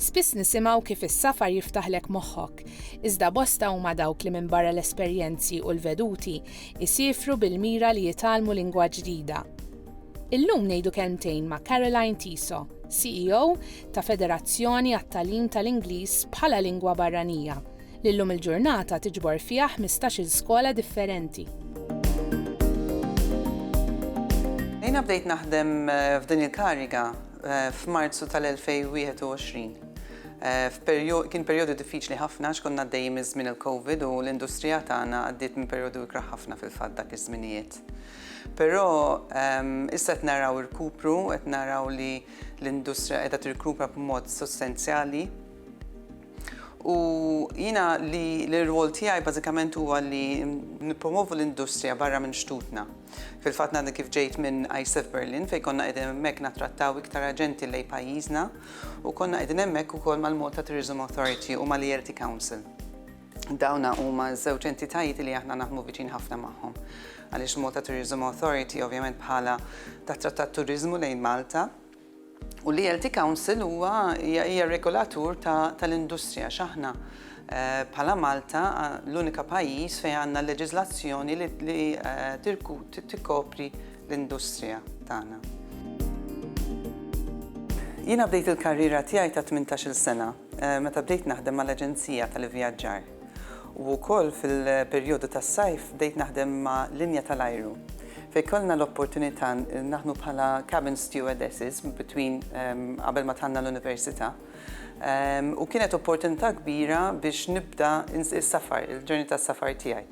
Spiss nisimgħu kif is-safar jiftaħlek moħħok, iżda bosta huma dawk li minbarra l-esperjenzi u l-veduti, isiefru bil-mira li jitgħallmu lingwa ġdida. Illum ngħidu kelmtejn ma' Caroline Tiso, CEO ta' Federazzjoni għat-Tagħlim tal-Ingliż bħala Lingwa Barranija, li llum il-ġurnata tiġbor fiha ħmistax-il skola differenti. Jiena bdejt naħdem f'din il-kariga f'Marzu tal-2021. Kien perjodu diffiċli ħafna għax konna għaddejjin minn żmien il-Covid u l-industrija tagħna għaddiet minn perjodu ikrah ħafna fil-fatt dak iż-żminijiet. Però issa qed naraw irkupru, qed naraw li l-industrija qiegħda tirkupra b'mod sostenzjali. U jiena li l-irwol tiegħi bażikament huwa li nippromovu l-industrija barra minn xtutna. Fil-fatt ngħadni kif ġejt minn ISEF Berlin fejn konna qegħdin hemmhekk nattrattaw iktar aġenti lejn pajjiżna u konna qegħdin hemmhekk ukoll mal-Malta Tourism Authority u mal-ELT Council. Dawn huma ż-żewġ entitajiet li aħna naħdmu viċin ħafna magħhom. Għaliex Malta Tourism Authority ovvjament bħala tattrattat turiżmu lejn Malta, U l-ELT Council huwa, hija, hija regolatur ta' tal-industrija għax aħna bħala Malta l-unika pajjiż fejn għandna l-leġiżlazzjoni li li tirku tikkopri l-industrija tagħna. Jiena bdejt il-karriera tiegħi ta' tmintax-il sena. Meta bdejt naħdem mal-aġenzija tal-ivvjaġġar u wkoll fil-perjodu tas-sajf bdejt naħdem ma' linja tal-ajru fejn kellna l-opportunità naħdmu bħala cabin stewardesses between qabel ma dħalna l-università u kienet opportunità kbira biex nibda s-safar, il-journey tas-safar tiegħi.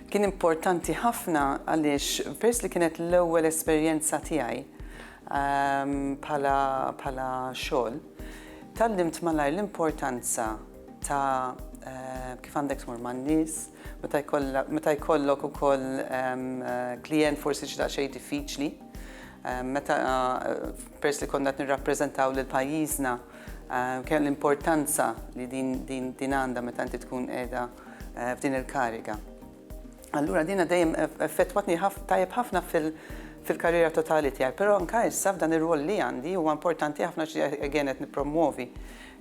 Kien importanti ħafna għaliex peress li kienet l-ewwel esperjenza tiegħi bħala xogħol, Tgħallimt malajr l-importanza ta' kif għandek tmur man-nies, meta jkollok ukoll klijent forsi xi daqsxejn diffiċli. Meta, peress li konna qed nirrappreżentaw lil pajjiżna, kien l-importanza li din għandha meta inti tkun qiegħda f'din il-kariga. Allura din dejjem effettwatni tajjeb ħafna fil-karriera totali tiegħi, però anke issa f'dan ir-rwol li għandi huwa importanti ħafna xi again qed nippromwovi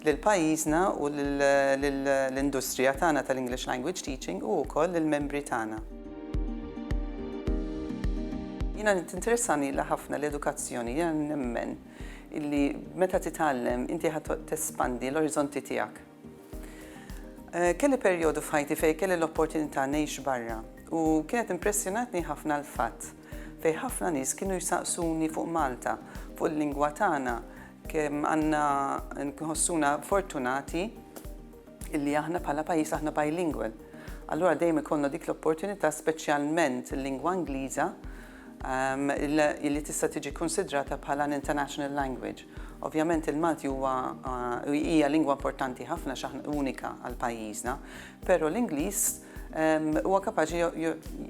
lil pajjiżna u lill-industrija tagħna tal-English Language Teaching u wkoll lill-membri tagħna. Jiena tinteressani ilha ħafna l-edukazzjoni, jiena nemmen illi meta titgħallem inti ħadd tespandi l-oriżonti tiegħek. Kelli perjodu f'ħajti fejn kelli l-opportunità ngħix barra u kienet impressjonatni ħafna l-fatt fejn ħafna nies kienu jsaqsuni fuq Malta, fuq il-lingwa tagħna, kemm għandna nħossuna fortunati illi aħna bħala pajjiż aħna bilingual. Allura dejjem ikollna dik l-opportunità speċjalment il-lingwa Ingliża li tista' tiġi kkunsidrata bħala an international language. Ovvjament il-Malti huwa hija lingwa importanti ħafna x'aħna unika għal pajjiżna, però l-Ingliż huwa kapaċi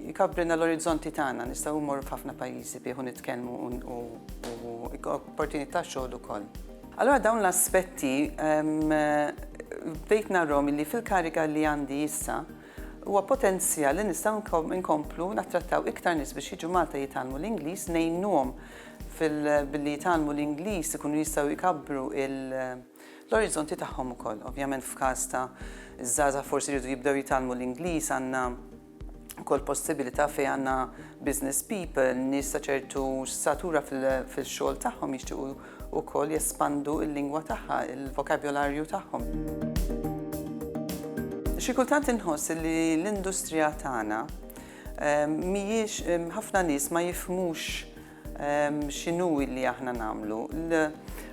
jkabbrilna l-orizzonti tagħna, nistgħu mmorru f'ħafna pajjiżi bih u nitkellmu u opportunità ta' xogħol ukoll. Allura dawn l-aspetti bdejt narahom li fil-kariga li għandi issa, Huwa potenzjal li nistgħu nkomplu nattrattaw iktar nies biex jiġu Malta jitgħallmu l-Ingliż, ngħinuhom billi jitgħallmu l-Ingliż ikunu jistgħu jkabbru l-oriżonti tagħhom ukoll. Ovvjament f'każ ta' żgħażagħ forsi jridu jibdew jitgħallmu l-Ingliż għandna wkoll possibilità fejn għandna business people, nies ta' ċertu statura fil-xogħol tagħhom jixtiequ ukoll jespandu l-lingwa tagħha, il-vokabjolarju tagħhom. Xi kultant inħoss li l-industrija tagħna mhijiex ħafna nies ma jifhmux x'inhu li aħna nagħmlu.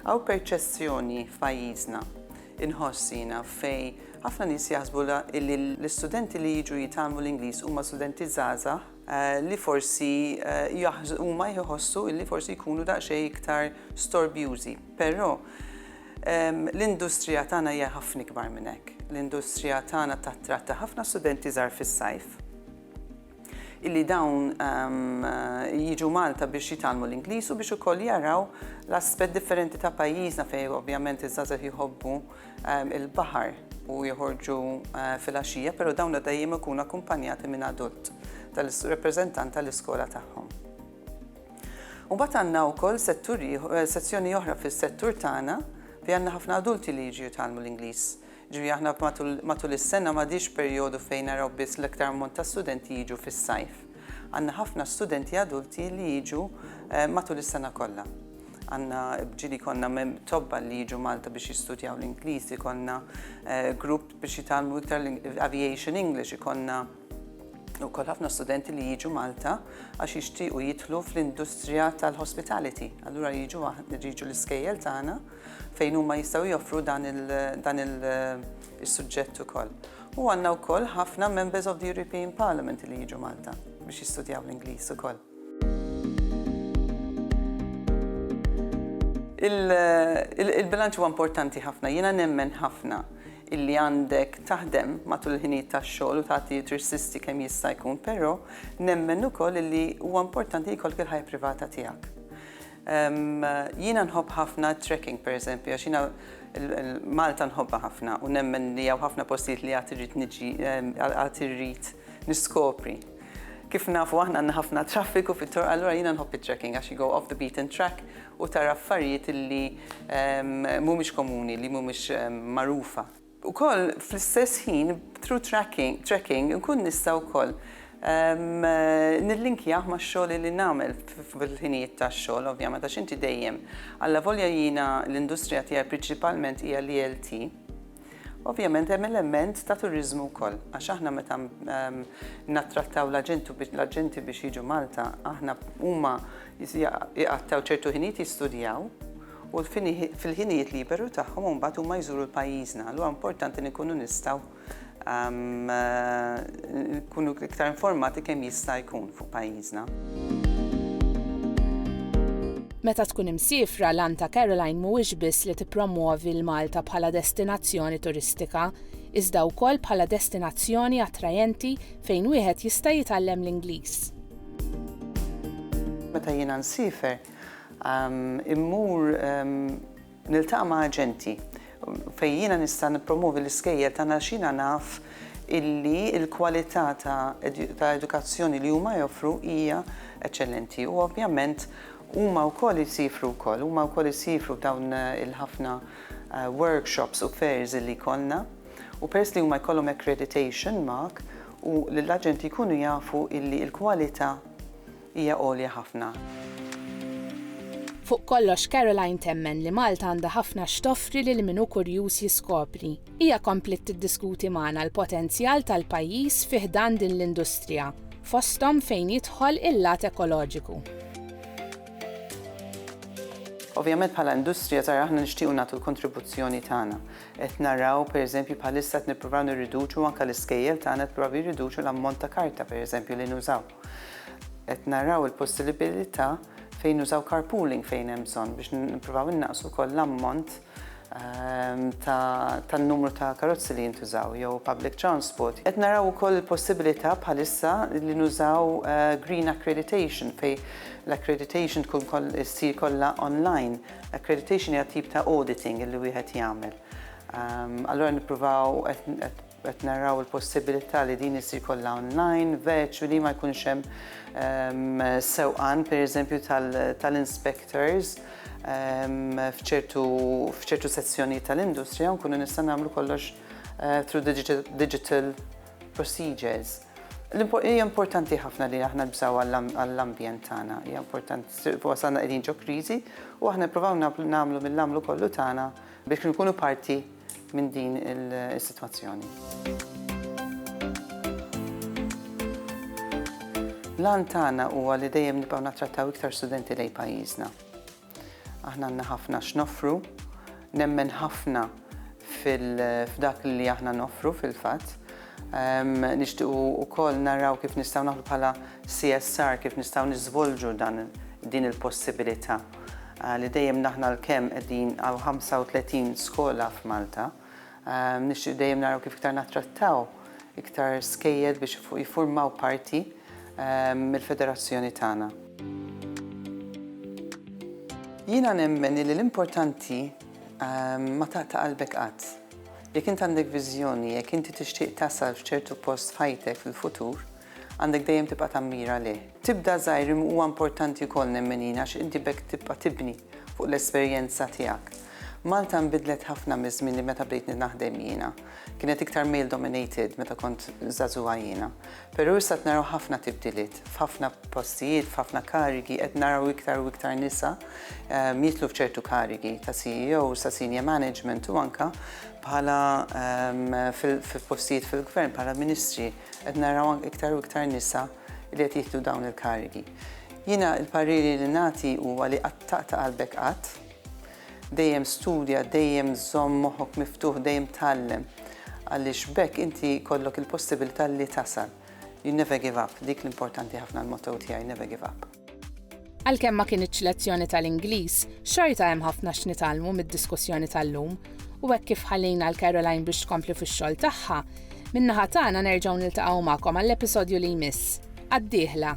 Hawn perċessjoni f'pajjiżna inħoss jiena fejn ħafna nies jaħsbu li l-istudenti li jiġu jitgħallmu l-Ingliż huma studenti żgħażagħ li forsi huma jħossu li forsi jkunu daqsxejn iktar storbjużi. Però l-industrija tagħna hija ħafna ikbar minn hekk. L-industrija tagħna tattratta ħafna studenti żgħar fis-sajf illi dawn jiġu Malta biex jitgħallmu l-Ingliż u biex ukoll jaraw l-aspett differenti ta' pajjiżna fejn ovvjament iż-żgħażagħ jħobbu il-baħar u joħorġu filgħaxija, però dawn l-għoddejjem ikunu akkumpanjati minn adult tal-rappreżentant tal-iskola tagħhom. U bat għandna wkoll sezzjoni oħra fis-settur tagħna fi għandna ħafna adulti li jiġu jitgħallmu l-Ingliż. Ġifieri aħna matul is-sena m'għadix perjodu fejn naraw biss l-iktar ammont ta' studenti jiġu fis-sajf. Għandna ħafna studenti adulti li jiġu matul is-sena kollha. Għandna ġieli jkollna tobba li jiġu Malta biex jistudjaw l-Ingliż, ikollna grupp biex jitgħallmu iktar l-Aviation English, ikollna wkoll ħafna studenti li jiġu Malta għax jixtiequ jidħlu fl-industrija tal-hospitality. Allura jiġu jiġu l-iskejjel tagħna fejn huma jistgħu joffru dan il- is-suġġett ukoll. U għandna wkoll ħafna Members of the European Parliament li jiġu Malta biex jistudjaw l-Ingliż ukoll. Il-bilanċ huwa importanti ħafna, jiena nemmen ħafna illi għandek taħdem matul il-ħinijiet tax-xogħol u tagħti tirsisti kemm jista' jkun, però nemmen ukoll illi huwa importanti jkollok il-ħajja privata tiegħek. Jiena nħobb ħafna t-trekking pereżempju għax jiena Malta nħobbha ħafna u nemmen li hawn ħafna postijiet li għad irrid niġi għad irrid niskopri. Kif nafu aħna għandna ħafna traffiku fit-toroq allura jiena nħobb it-trekking għax you go off the beaten track u tara affarijiet li mhumiex komuni, li mhumiex magħrufa. Ukoll fl-istess ħin through tracking, tracking inkun nista' wkoll nillinkjah max-xogħol li nagħmel fil-ħinijiet tax-xogħol ovvjament għax inti dejjem allavolja jiena l-industrija tiegħi prinċipalment hija l-ELT, ovvjament hemm element ta' turiżmu wkoll għax aħna meta nattrattaw l-aġenti biex jiġu Malta aħna huma jqattgħu ċertu ħinijiet jistudjaw, u fil-ħinijiet liberu tagħhom imbagħad huma jżuru l-pajjiżna. Allura importanti li nkunu nistgħu nkunu iktar informati kemm jista' jkun fuq pajjiżna. Meta tkun imsiefra, l-għan ta' Caroline mhuwiex biss li tippromwovi 'l Malta bħala destinazzjoni turistika, iżda wkoll bħala destinazzjoni attrajenti fejn wieħed jista' jitgħallem l-Ingliż. Meta jiena nsiefer, Immur niltaqa' ma' aġenti fejn jiena nista' nippromovi l-iskejjel tagħna għax jiena naf illi l-kwalità ta' edukazzjoni li huma joffru hija eċċellenti u ovvjament huma wkoll isiefru wkoll, huma wkoll isiefru f'dawn il-ħafna workshops u fairs illi jkollna u peress li huma jkollhom accreditation mark u l-aġenti jkunu jafu illi l-kwalità hija għolja ħafna. Fuq kollox, Caroline temmen li Malta għandha ħafna x'toffri lil min hu kurjuż jiskopri. Hija kompliet tiddiskuti magħna l-potenzjal tal-pajjiż fi ħdan din l-industrija, fosthom fejn jidħol il-lat ekoloġiku. Ovvjament bħala industrija tara aħna nixtiequ nagħtu l-kontribuzzjoni tagħna. Qed naraw pereżempju bħalissa qed nippruvaw nirriduċu anke l-iskejjel tagħna qed provaw jirriduċu l-ammont ta' karta pereżempju li nużaw. Qed naraw il-possilibilità fejn nużaw carpooling fejn hemm bżonn biex nippruvaw innaqqsu wkoll l-ammont ehm, tan-numru ta' karozzi li jintużaw jew public transport. Qed naraw ukoll il-possibilità bħalissa li nużaw eh, green accreditation fej l-accreditation tkun issir kollha online. Accreditation hija tip ta' auditing li wieħed jagħmel. Ehm, allora nippruvaw Qed naraw il-possibilità li din issir kollha online, virtually, ma jkunx hemm sewqan pereżempju tal-inspectors f'ċertu sezzjonijiet tal-industrija u nkunu nistgħu nagħmlu kollox through digital procedures. Hija importanti ħafna li aħna nibżgħu għall-ambjent tagħna. Hija importanti, wasalna qegħdin ġo kriżi u aħna nippruvaw nagħmlu mill-għamlu kollu tagħna biex inkunu parti minn din is-sitwazzjoni. L-għan tagħna huwa li dejjem nibqgħu nattrattaw iktar studenti lejn pajjiżna. Aħna għandna ħafna x'noffru, nemmen ħafna f'dak li aħna noffru fil-fatt. Nixtiequ wkoll naraw kif nistgħu naħdu bħala CSR, kif nistgħu niżvolġu dan din il-possibilità. li dejjem naħna l-kemm qegħdin għaw 35 skola f'Malta, nixtieq dejjem naraw kif iktar nattrattaw iktar skejjel biex jiffurmaw parti mill-federazzjoni tagħna. Jiena nemmen li l-importanti ma taqta' qalbek qatt. Jekk int għandek viżjoni, jekk inti tixtieq tasal f'ċertu post f'ħajtek fil-futur, Għandek dejjem tibqa' tammira lih. Tibda żgħir imma huwa importanti wkoll nemmenin għax inti b'hekk tibqa' tibni fuq l-esperjenza tiegħek. Malta nbidlet ħafna miż-żmien li meta bdejt naħdem jiena. Kienet iktar male dominated meta kont żagħżugħa jiena. Però issa qed naraw ħafna tibdiliet f'ħafna postijiet, f'ħafna karigi, qed naraw iktar u iktar nisa jidħlu f'ċertu karigi ta' CEO sa senior management u anke bħala f'postijiet fil-Gvern bħala ministri. Qed naraw anke iktar u iktar nisa li qed jieħdu dawn il-karigi. Jiena l-pariri li nagħti huwa li qatt taqta' qalbek qatt. Dejjem studja, dejjem żomm moħħok miftuħ, dejjem tgħallem. Għaliex b'hekk inti jkollok il-possibilità li tasal. You never give up, dik l-importanti ħafna l-motto tiegħi, never give up. Għalkemm ma kinitx lezzjoni tal-Ingliż, xorta hemm ħafna x'nitgħallmu mid-diskussjoni tal-lum, u hekk kif ħallejna 'l Caroline biex tkompli fix-xogħol tagħha, min-naħa tagħna nerġgħu niltaqgħu magħkom għall-episodju li jmiss. Għad-dieħla!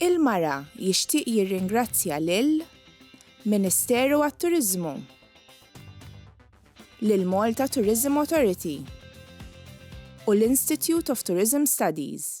Il-Mara jixtieq jirringrazzja lil Ministeru għat-Turiżmu, lil Malta Tourism Authority u l-Institute of Tourism Studies.